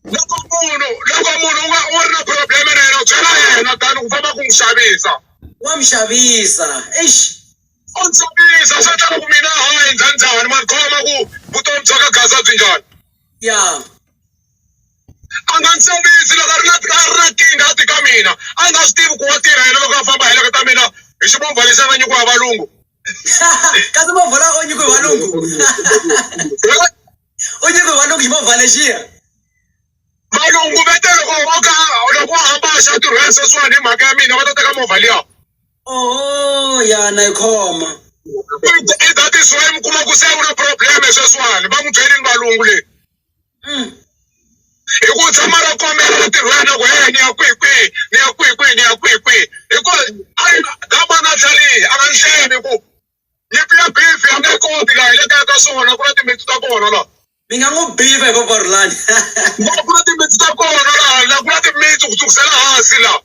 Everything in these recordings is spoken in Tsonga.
loko munhu loko munhu u va u ri na problem na yena u byela yena than ku famba ku n'wi xavisa wa mi xavisa eish u ndzi xavisa swi endla loko mina hayi njhani njhani mani khoma ku vutomi bya ka gaza byi njhani ya a nga ndzi xavisi loko a ri na a ri na kinga a ti ka mina a nga swi tivi ku wa tirha yena loko a famba a heleketa mina hi ximovha lexi a nga nyikiwa hi valungu kasi movha la o nyikiwe hi valungu u nyike valungu hi mavhalexiya valungu va te loko vo ka loko va hamba va xa tirhela sweswiwani hi mhaka ya mina va ta teka movha liya oho yana yi khoma i that is why mi kuma ku se u na problem sweswiwani va n'wi byelini valungu leyi mm. hi ku tshama ra kombela va tirhela loko he ni ya kwihi kwihi ni ya kwihi kwihi ni ya kwihi kwihi hikuva a yi- that man a tlharihi a nga ni hleni ku Ni ku ya beef a nge koti laha hi le kaya ka swona ku na timitsu ta kona laha. Ni nga n'wi beef hi voko rulani. Ku ku na timitsu ta kona laha laha ku na timitsu ku sukusela hansi laha.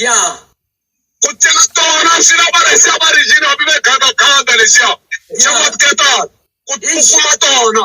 Ya. Ku cela tona swi lava rhesi ya varigini hambi va yi gandaganda lexiya. Xa matiketar ku ku kuma tona.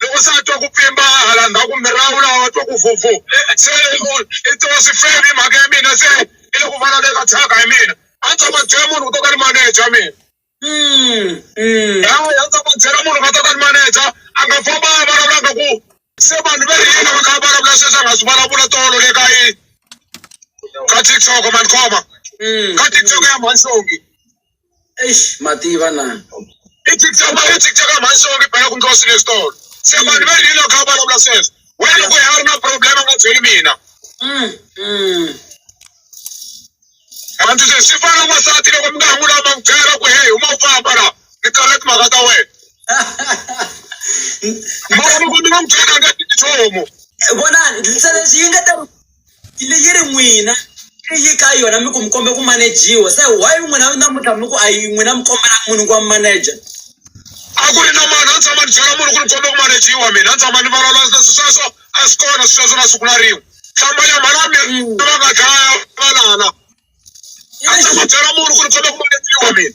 loko se a twa ku pfimba hala ndzhaku mi rawula wa twa ku fufu se i twa swi fele hi mhaka ya mina se i le ku vulavulaka thyaka hi mina a ni tshama byela munhu ku to ka ni maneja mina hawa a ni tshama byela munhu ka to ka ni maneja a nga famba a vulavula nga ku se vanhu va ri yini va kha va vulavula sweswi a nga swi vulavula tolo le ka yi ka TikTok mani khoma ka TikTok ya mhansongi. eish mativa na itiktok ma itiktok a mhani songe bela ku ndlosile esitolo se vanhu va rilo kha va vulavula sweswo wena loko ya ri na problem a nga byeli mina mm, mm. anti se swi fana n'wansati loko mi nga ha n'wi lava n'wi byela ku heyi huma u famba la ni tsala timhaka ta wena mara loko mi nga n'wi byela a nga tiki nchumu vona ndlisa leswi yi nga ta Yi le yi ri n'wina se yi ka yona mi ku mi kombe ku manejiwa se why n'wina namuntlha mi ku a yi n'wina mi kombela munhu ku va manager a ku ri na mani a tshama ni byela munhu ku ni kombe ku manejiwa mina a tshama ni valala leswi sweswo a swi kona swi sweswo na siku na rin'we hlamba nyama la mi Mm. va nga dlaya valala a tshama byela munhu ku ni kombe ku manejiwa mina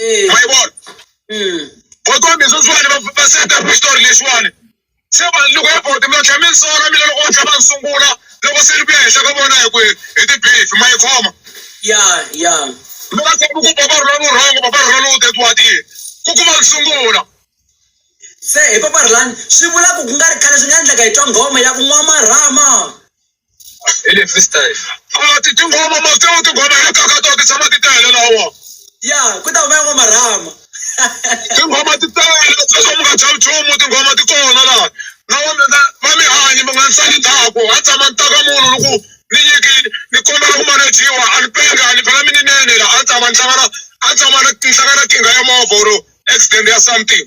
Mm. ma yi vona Mm. va kombe sweswiwani va va seta xitori lexiwani se vanhu loko ya boti mi tlhela mi ni sora mina loko va tlhela va ni sungula loko se ni ku ya henhla ka vona hi ku hi hi tibifi ma yi khoma Ya, ya. mi nga tshami ku papa rhula lu rhongo papa rhula lu tetiwatile ku kuma ku sungula Se hi papa Rhulani swi vula ku ku nga ri khale swi nga endleka hi twa nghoma ya ku nwa marhama. Hi le freestyle. A ti tingoma ma feo tingoma hi kaka to ti tshama ti tele lawa. Ya, ku ta huma yan'wa marhama. Tinghoma ti tele sweswo mi nga chavi nchumu tinghoma ti kona laha. Na wa mi nga va mi hanye mi nga ni sali ndzhaku ha tshama ni ta ka munhu ni ku ni nyikini ni kombela ku manejiwa a ni penge a ni phela mi ni nene la a ni tshama ni hlangana a ni tshama ni hlangana na nkingha ya movha or accident ya something.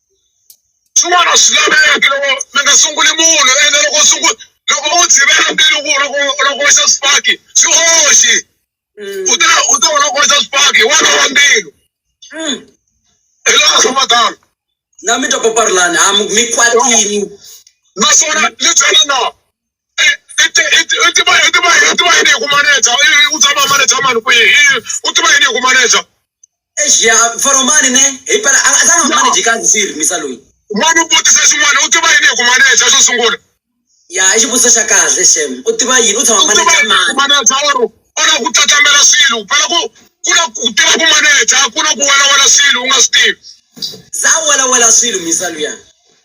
swin'wana swi laveki loko mi nga sunguli munhu ene loko u sungula loko u tshivela mbilu ku loko loko xa swifaki swi oxi u ta u ta loko xa swifaki wa lava mbilu hi laha swa matano na mi twa paparilani a mi kwatini naswona ni byela na u tiva u tiva u tiva yini hi ku maneja u tshama maneja mani ku yini u tiva yini hi ku maneja ya foromani ne hi pela a tshama maneji ka ndzi rimisa loyi mani u vutisa xin'wana u tiva yini hi ku maneja xo sungula ya i xivutiso xa kahle xem u tiva yini u tshama maneja mani maneja or ona ku tlatlambela swilo phela ku ku na ku tiva ku maneja ku na ku welawela swilo u nga swi tivi za welawela swilo misa luya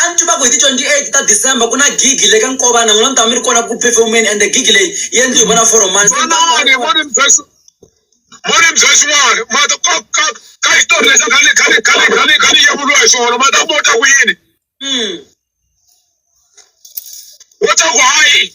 a ni tiva ku hi ti 28 ta december ku na gigi le ka nkovana n'wina mi ta va mi ri kona ku performeni ende gigi leyi yi endliwe hi vona foromani vanani voni byesi voni byesi wani mata ka ka ka xitori lexi khale khale khale khale khale yevuriwa hi swona mata mo ta ku yini Hmm. wo ta ku hayi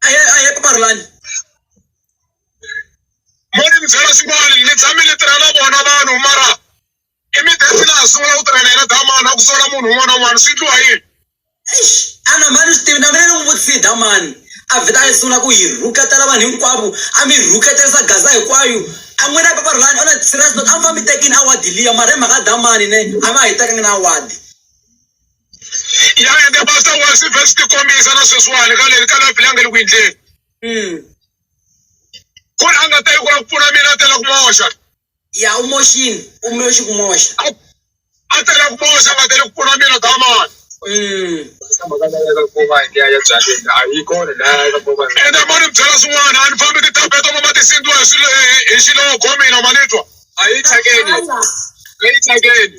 a hi a hi eku parulani mo ni mi byela swin'wana ni tshame ni tirha na vona vanhu mara i mi desi laha sungula ku tirhela yena damani a ku sola munhu un'wana na un'wana swi endliwa yini ana mhani swi tivi na mina ni n'wi vutisile damani a vheta a yi sungula ku yi rhuketela vanhu hinkwavo a mi rhuketelisa gaza hinkwayo a n'wina hi paparulani ona serious not a mi fambi tekini awadi liya mara hi mhaka damani ne a va ha yi tekanga na awadi Yang'ende Pastor Wasi verse ti kombisa na sweswiwani ka leri ka la Bibele nge le ku endleni. Mm. Ku ri a nga ta yi ku la ku pfuna mina a tela ku moxa. Ya u moxini, u moxi ku moxa. A a tela ku moxa a nga tele ku pfuna mina damani. Mm. Ende ma ni byela swin'wana a ni fambi titapeto ma ma ti sindziwa hi swilo hi- hi xiloko mina ma ni twa. A yi thyakeni. A yi thyakeni.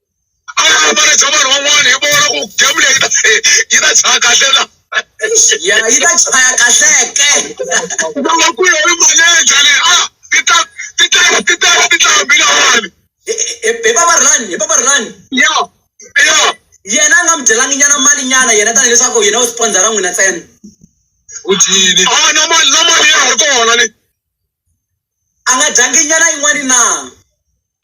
a yi ambale bya vanhu van'wana hi vona ku game leyi yi ta yi ta chaya kahle na ya yi ta chaya kahleke loko ku yo ri maleja le a ti ta ti ta ti ta ti ta hambilahani hi va va ri lani hi va va ri lani ya ya yena a nga mi dyelangi nyana mali nyana yena tani leswaku yena u sponsora n'wina ntsena u dyini a na mali na mali ya ha ri kona le A nga dyangi nyana yin'wana na?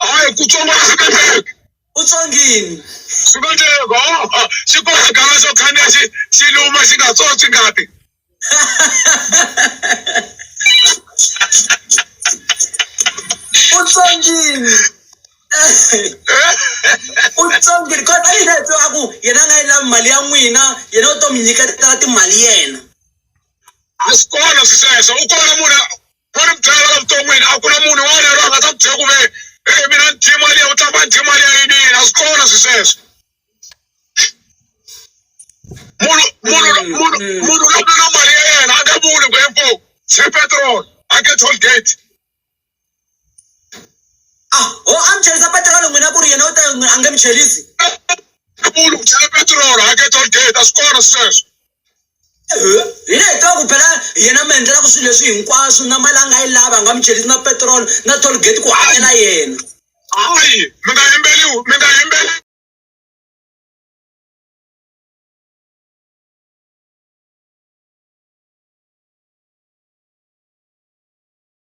Hayi, ku tsonga a swi koteki. U tsongini. Swi koteki. Ho-o, xi kona xigava xo khandziya xi xi luma xi nga tswontswi ngati. U tsongini. U tsongini. Kona a yi a ku yena a nga yi lavi mali ya n'wina, yena u to mi nyiketela timali yena. a swi kona swi sweswo u kona munhu va ni byela la vuton'wini a ku na munhu un'wana yaloye a nga ta ku byela ku ve e mina ni dye mali ya u tlamba ni dye mali ya yini yini a swi kona swi sweswo munhu munhu munhu munhu loko na mali ya yena a nga vuli ku info xe petrol a ke toll gate a ah, ho amchelisa petirolo n'wina ku ri yena u ta a nge mi chelisi munhu ku chela petirolo a ke toll gate a swi kona sweswo eh, hi le hi ku phela yena mi endlelaka swilo leswi hinkwaswo na mali a nga yi lava a nga mi chelisi na petirolo na toll gate ku hakela yena hayi mi nga yimbeli mi nga yimbeli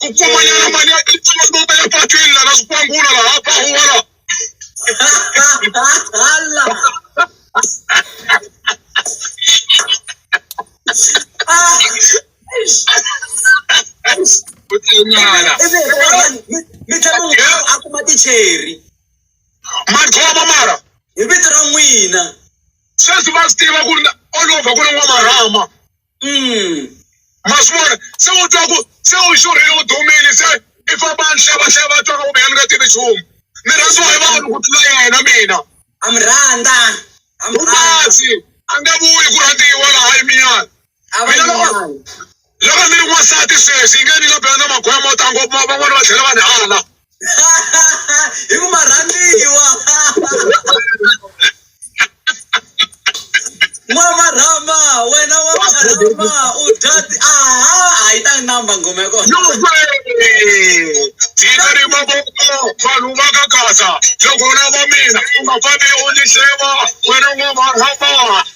ku pfumanyana mali ya tintsongo ya patwini lana swikwangula laha pahuwala ku tanyana a kuma ticheri madlhovo mara hi vito ra n'wina sweswi va swi tiva ku ri olova ku ri n'wamarhama Mm. ma swi vona se u twa ku se u xurhile u dumile se i famba ni hlavahlava a twaka kumbe a ni nga tivi nchumu ni rhandziwa hi vanhu ku tlula yena mina ha mi rhandza ha mi rhandza umasi a nga vuyi ku rhandziwa laha yi minyana a va Mina loko- nyuwana loko ni ri n'wansati sweswi yi nge ni nga bela na magoya mo tala ngopfu ma- van'wana va tlhela va ni hala hi ku ma rhandziwa n'wa marhama wena wa marhama u dya ti- aha a yi ta namba ngoma ya kona tikari maboko vanhu va ka kasa loko u lava mina u nga fambi u ni xeva wena n'wamarhama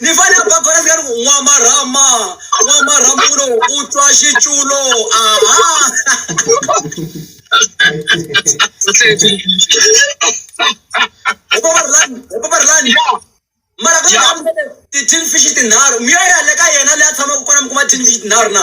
ni fane a ba kona ni ka ri ku n'wamarhama n'wamarhama u lo u twa xiculo aha opabarilani mara ka ti-tin fish tinharhu mi yo ya le ka yena leyi a tshamaka kona mi kuma tin fish tinharhu na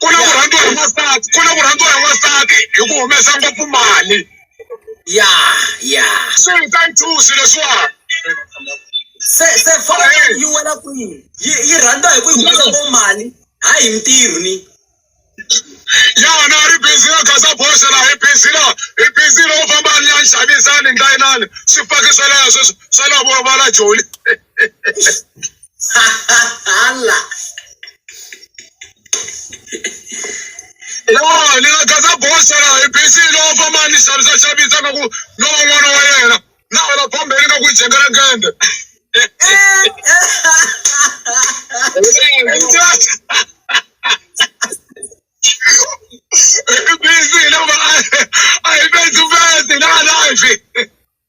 ku na ku rhandziwa hi n'wansati ku na ku rhandziwa hi n'wansati hi ku humesa ngopfu mali ya ya swi hi ta nthusi leswiwani se se fona yi wela kwihi yi yi rhandza hi ku yi humesa ngo mali hayi hi ntirho ni ya na ri busy na gaza boxe la hi busy la hi busy loko famba ni ya ni xavisani ni ta yinani swifaki swa laha sweswi swa laha vona va la joli Ala. No, ni nga gaza bosa la hi busy no famba ni xavisa xavisa nga ku no va n'wana wa yena. Na wena bombe ni nga ku yi jengela gende. Hi busy no va a hi busy busy na life.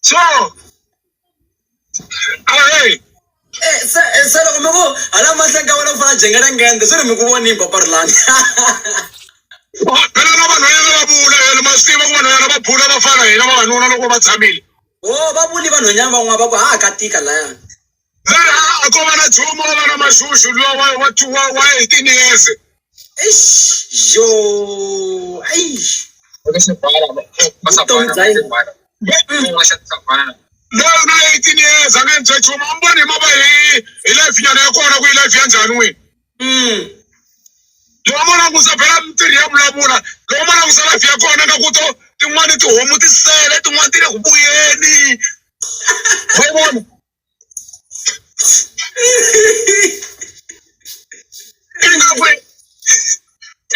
so a hey Eh, se eh, se loko mi ku hala mahlweni ka wena ku fana jengela ngende swi ri mi ku vonini paparilani wa- phela na vanhwanyana va vula yena ma swi tiva ku vanhwanyana va bula va fana hina vavanuna loko va tshamile o va vuli vanhwanyana van'wana va ku ha ka tika laya laha a ko va na dzumu a va na maxuxu luwa wa wa wa wa hi tiniyeze eish yo eish vutomi bya yena loyi na hi tiniyeze a nga ndzi nchumu a mi voni hi mava hi hi life nyana ya kona ku yi life ya njhani n'wini lowa mo langusa phela mintirho ya vulavula lowa mo langusa life ya kona nga ku to tin'wani tihomu ti sele tin'wani ti le ku vuyeni wa yi vona ingaku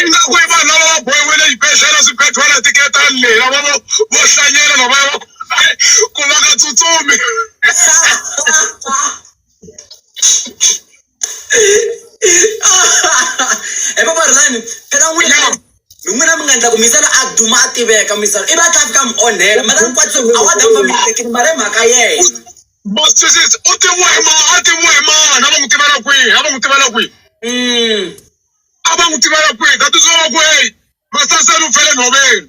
ingaku i vanhu lava va bohiwile xibedhlele swibedhlele tiketani leyi lava vo vo hlanyela lava va ku va nga tsutsumi epa varilani phela n'wina n'wina mi nga endla ku misala a duma a tiveka misala i va tla fika mi onhela mara ni kwatisa a wa damba mi tekini mara hi mhaka yena bosisisi u tiviwa hi ma a tiviwa hi mani a va n'wi tivela kwihi a va n'wi tivela kwihi mm. a va n'wi tivela kwihi that is why va ku heyi masaseni u fele nhoveni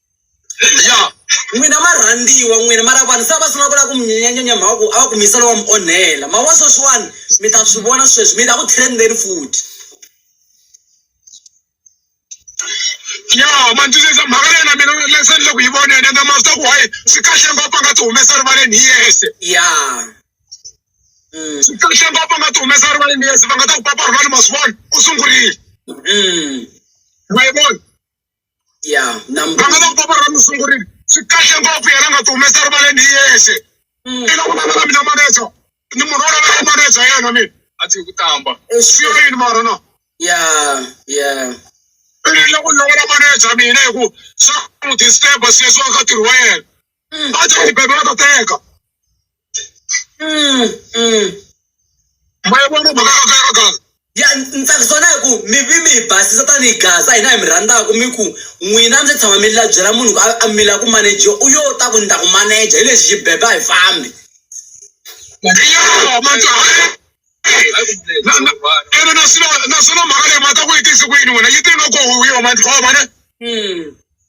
ya n'wina marhandziwa n'wina mara vanhu se a va sungula ku lava ku mi nyenyanyenya mhaka ku a va ku misa lowa mi onhela mhaka wa sweswiwani mi ta swi vona sweswi mi ta ku trendeni futhi ya mandzisisa mhaka leyi na mina leswi endle ku yi vona yena ende mavita ku hayi swi kahle ngopfu a nga ti humesa rivaleni hi yexe ya Mm, swi kahle ngopfu a nga ti humesa rivaleni hi yexe va nga ta ku papa rivali ma swi vona u sungurile mm. ma yi vona ya vana va nkoka ra mi sungurile swi kahle ngopfu yena nga ti humesa rivaleni hi yexe mm. i loko vana va mina maneja ni munhu wo lavela maneja yena mina a ti hi ku tamba swi ri yini mara na ya ya i loko ni lavela maneja mina hi ku swa n'wi disturba sweswi wa ka ntirho wa yena Mm. Ba tla ipe ba teka. Mm. Mm. Ba bona ba ka ka ka. Ya ntsakisona hi ku mi vi mi hi basisa tanihi gaza hina hi mi rhandzaka mi ku n'wina ndzi tshama mi la byela munhu ku a mila ku manager u yo ta ku ni ta ku manager hi lexi xibebe a hi fambi Yo, man, ene naswona naswona mhaka leyi mata ku yi tisi ku yini wena yi tini loko huwiwa mani khoma ne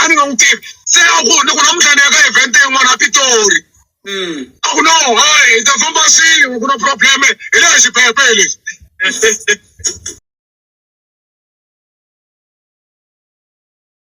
a ni nga n'wi tivi se a ku loko namuntlha ni ya ka event yin'wana ya pitori a ku no hayi hi ta famba swin'we ku na probleme hi le xipepe hi lexi